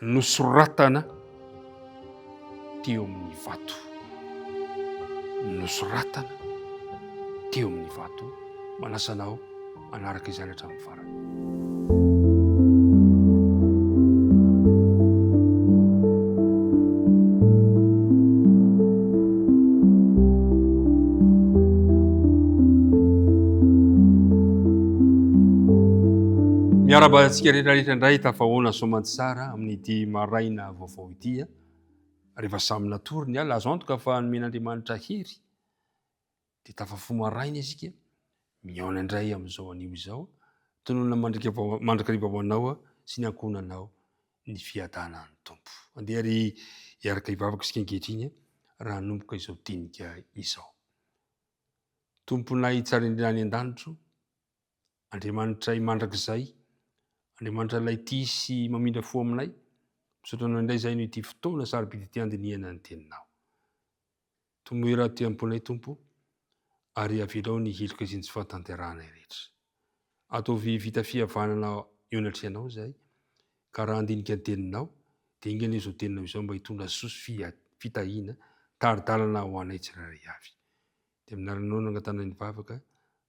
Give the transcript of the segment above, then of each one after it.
nosoratana teo amin'ny vato nosoratana teo amin'ny vato manasanao manaraka izany hatramin'ny farany miarabana antsika rehetra rehetra Indray tafahoana soamantsara amin'ity maraina vaovao ity a. Rehefa samy natory ny ala, azo antoka fa nomen'Andriamanitra hery. Dia tafafo maraina isika, mihaona indray amin'izao anio izao. Tononina mandrika mandrakariva ho anao sy ny ankohonanao ny fiadanan'ny Tompo. Andeha ry hiaraka hivavaka isika ankehitriny raha hanomboka izao dinika izao. Tomponay tsara indrindra any an-danitro, Andriamanitray mandrakizay, Andriamanitra ilay tia sy mamindra fo aminay, misaotra anao indray izay noho ity fotoana sarobidy ity andinihana ny teninao. Tomoy raha tia amponay Tompo, ary avelao ny heloka iziny tsy fahatanterahanay rehetra. Ataovy vita fihavanana eo anatrehanao izay, ka raha andinika ny teninao, dia enga anie izao teninao izao mba hitondra soa sy fitahiana, tari-dalana ho anay tsirairay avy. Dia aminaranao nangatana ny vavaka,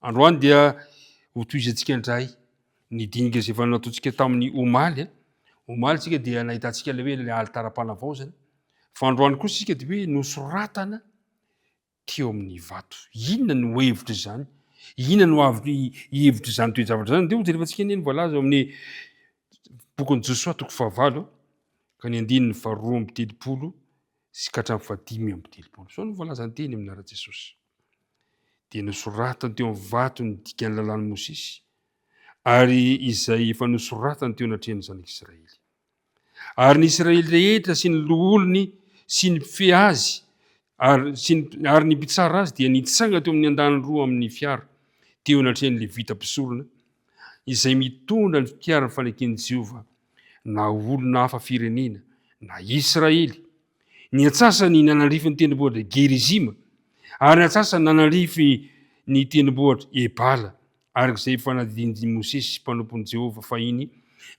Androany dia ho tohizantsika indray ny dinika izay efa nataontsika tamin'ny omaly. Omaly isika dia nahitantsika ilay hoe ilay alitaram-panavaozana. Fa androany kosa isika dia hoe nosoratana teo amin'ny vato. Inona no hevitra izany? Inona no avy hevitra izany toe-javatra izany? Dia hojerevantsika anie ny voalaza ao amin'ny bokin'i Josoa toko fahavalo ka ny andininy faharoa amby telopolo sy ka hatramin'ny fahadimy amby telopolo. Izao no voalazan'ny teny amin'ny anaran'i Jesosy. dia nosoratany teo amin'ny vato ny dikan'ny lalàn'i Mosesy, ary izay efa nosoratany teo anatrehan'ny zanak'Israely. Ary ny Israely rehetra sy ny loholony sy ny mpifehy azy ary sy ny, ary ny mpitsara azy dia nitsanga teo amin'ny andany roa amin'ny fiara teo anatrehan'ny levita mpisorona izay mitondra ny fiaran'ny faneken'i Jehovah na olona hafa firenena na Israely Ny antsasany nanalrify ny tendrombohitra Gerizima, ary ny antsasany nanalrify ny tendrombohitra Ebala, araka izay fanadidin'i Mosesy mpanompon'i Jehovah fahiny,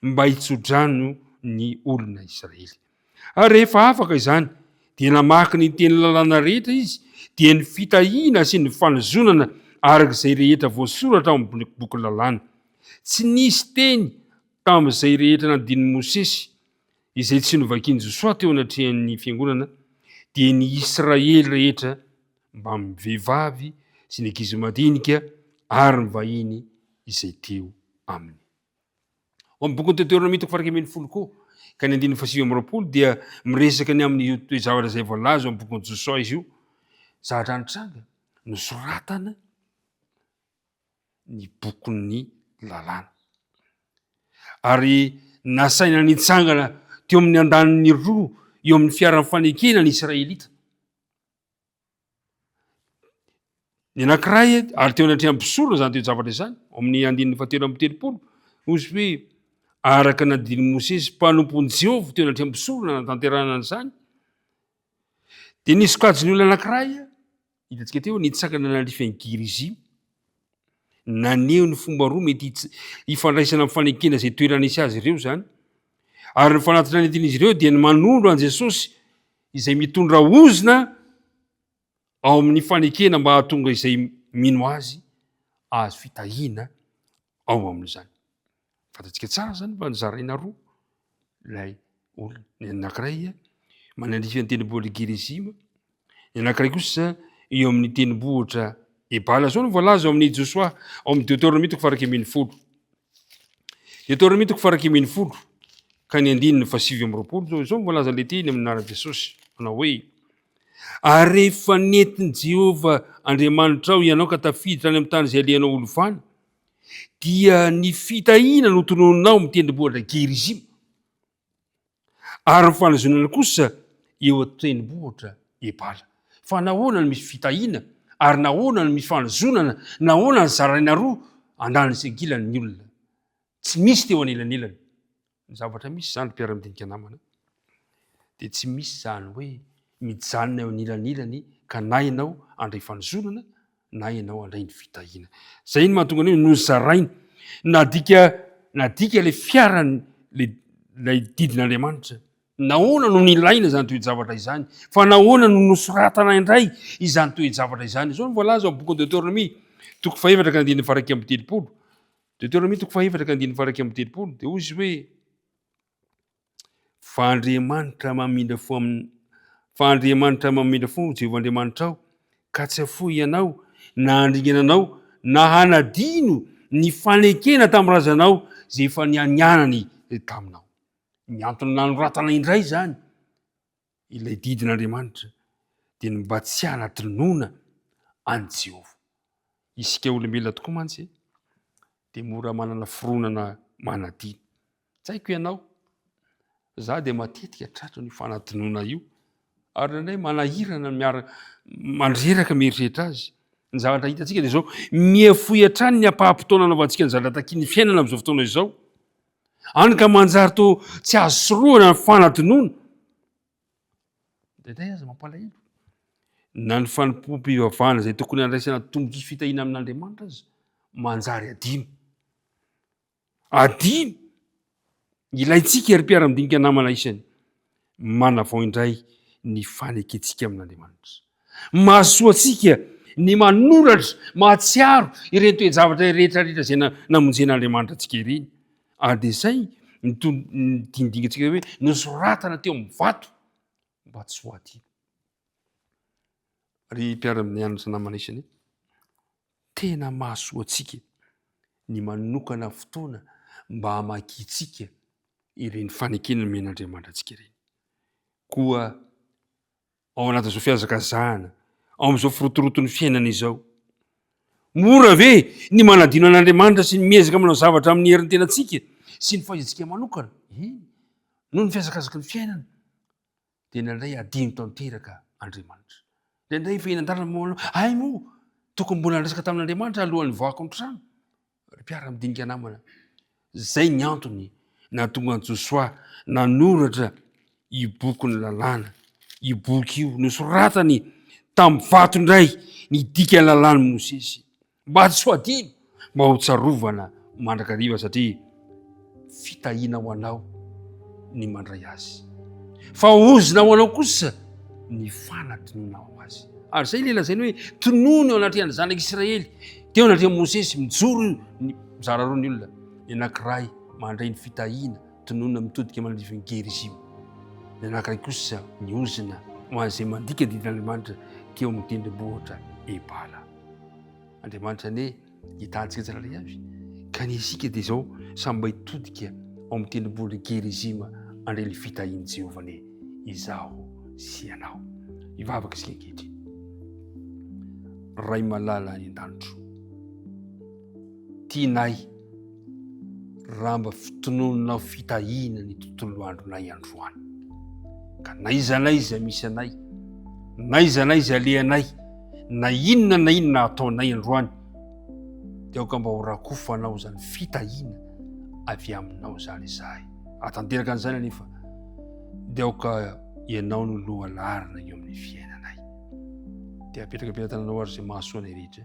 mba hitsodrano ny olona Israely. Ary rehefa afaka izany, dia namaky ny teny lalàna rehetra izy, dia ny fitahiana sy ny fanozonana araka izay rehetra voasoratra ao amin'ny boky lalàna. Tsy nisy teny tamin'izay rehetra nanadin'i Mosesy Izay tsy novakian'i Josoa teo anatrehan'ny fiangonana dia ny Israely rehetra mbamin'ny vehivavy sy ny ankizy madinika ary ny vahiny izay teo aminy. Ao amin'ny bokin'ny Deoteronomia toko fahairaika ambin'ny folo koa ka ny andininy fahasivy amby roapolo dia miresaka ny amin'io toe-javatra izay voalaza ao amin'ny bokin'i Josoa izy io. Zavatra nitranga nosoratana ny bokin'ny lalàna. Ary nasaina nitsangana teo amin'ny andaniny roa eo amin'ny fiaran'ny fanekena ny Israelita. Ny anankiray ary teo anatrehan'ny mpisorona izany teo zavatra izany ao amin'ny andininy fahatelo amin'ny telopolo ozy hoe araka ny andininy Mosesy mpanompon'i Jehovah teo anatrehan'ny mpisorona natanterahana an'izany dia ny sokajin'ny olona anankiray Hitantsika teo ny tsakana nanalefany Girizy. Naneho ny fomba roa mety hifandraisana amin'ny fanekena izay toerana hisy azy ireo izany. Ary ny fanatitra nentin'izy ireo dia ny manondro an'i Jesosy izay mitondra ozona ao amin'ny fanekena mba hahatonga izay mino azy azo fitahiana ao amin'izany. Fantatsika tsara zany fa nozaraina roa ilay olona. Ny anankiray manalifa ny tendrombohitra Gerizima, ny anankiray kosa eo amin'ny tendrombohitra Ebala. Zao no voalaza ao amin'ny Josoa ao amin'ny Deuteronomie toko faharoa ambin'ny folo. Deuteronomie toko faharoa ambin'ny folo ka ny andininy fahasivy amby roapolo zao izao no voalaza ilay teny amin'ny anaran'i Jesosy manao hoe ary rehefa nentin'i Jehovah Andriamanitrao ianao ka tafiditra any amin'ny tany izay alehanao ho lovana dia ny fitahiana no tononina ao amin'ny tendrombohitra Gerizima, ary ny fanazonana kosa eo an-tendrombohitra Ebala. Fa nahoana no misy fitahiana, ary nahoana no misy fanazonana, nahoana no zaraina roa andaniny sy ankilany ny olona? Tsy misy teo anelanelany Ny zavatra misy izany ry mpiara-midinika namana dia tsy misy izany hoe mijanona eo anilanilany ka na ianao handray fanozonana na ianao handray ny fitahiana. Izay no mahatonga ny hoe nozaraina. Nadika nadika ilay fiarany ilay ilay didin'Andriamanitra. Nahoana no nilaina izany toe-javatra izany? Fa nahoana no nosoratana indray izany toe-javatra izany? Izao no voalaza ao amin'ny bokin'i Deoteronomia toko fahefatra ka andininy faha iraika amby telopolo. Deoteronomia toko fahefatra ka andininy fahairaika amby telopolo dia hoy izy hoe fa Andriamanitra mamindra fo amin'ny fa Andriamanitra mamindra fo Jehovah Andriamanitrao ka tsy afoy ianao na handringana anao na hanadino ny fanekena tamin'ny razanao izay efa nianianany taminao. Ny antony nanoratana indray izany Ilay didin'Andriamanitra dia ny mba tsy hanadinoana an'i Jehovah. Isika olombelona tokoa mantsy dia mora manana fironana manadino. Tsy haiko ianao, za dia matetika tratran' io fanadinoana io ary nandray manahirana miara mandreraka mieritreritra azy ny zavatra hitantsika dia izao mihefoy hatrany ny ampaham-potoana anaovantsika ny zavatra takian'ny fiainana amin'izao fotoana izao Any ka manjary to tsy azo sorohana ny fanadinoana. Deday aza mampalahelo. Na ny fanompoam-pivavahana izay tokony handraisana tombontsoa sy fitahiana amin'Andriamanitra aza manjary adino. Adino ilaintsika ry mpiara-midinika namana isany. manavao indray ny fanekentsika amin'Andriamanitra. Mahasoa antsika ny manoratra, mahatsiaro ireny toe-javatra rehetrarehetra izay namonjen'Andriamanitra antsika ireny. Ary dia izay ny dingidingantsika hoe nosoratana teo amin'ny vato mba tsy ho adino. Ry mpiara-mianatra namana isany, Tena mahasoa antsika ny manokana fotoana mba hamakiantsika ireny fanekena nomen'Andriamanitra antsika ireny. Koa ao anatin'izao fihazakazahana, ao amin'izao firotoroton'ny fiainana izao, mora ve ny manadino an'Andriamanitra sy ny miezaka manao zavatra amin'ny herin'ny tenantsika sy ny fahaizantsika manokana? Eny, noho ny fihazakazaky ny fiainana. Dia indraindray hadino tanteraka Andriamanitra. Indraindray efa eny an-dalana moa ianao, hay moa tokony mbola niresaka tamin'Andriamanitra alohan'ny nivoahako ny trano. Ry mpiara-midinika namana, izay ny antony nahatonga an'i Josoa nanoratra i bokin'ny lalàna. I boky io nosoratany tamin'ny vato indray ny dikan'ny lalàn'i Mosesy. Mba hasoadino, mba ho tsarovana mandrakariva satria fitahiana ho anao ny mandray azy. Fa ozona ho anao kosa ny fanadinoana ho azy. Ary izay ilay lazainy hoe tonony eo anatrehan'ny zanak'i Israely, teo anatrehan'i Mosesy mijoro ny mizara roa ny olona, ny anankiray mandray ny fitahiana, tononina mitodika manadrivin'i Gerizima. Ny anankiray kosa ny ozona ho an'izay mandika didin'Andriamanitra teo amin'ny tendrombohitra Ebala. Andriamanitra anie hita antsika tsirairay avy ka ny isika dia izao samy mba hitodika ao amin'ny tendrombohon'i Gerizima handray ny fitahian'i Jehovah anie izaho sy ianao. Hivavaka isika ankehitriny. Ray malala any an-danitro. Tianay, raha mba fitononinao fitahiana ny tontolo andronay androany. Ka n'aiza n'aiza misy anay, n'aiza n'aiza alehanay, na inona na inona ataonay androany, dia aoka mba ho rakofanao izany fitahiana avy aminao izany izahay. Raha tanteraka an'izany anefa, dia aoka ianao no loha larina eo amin'ny fiainanay. Dia apetraka am-pitantananao ary izay mahasoa anay rehetra.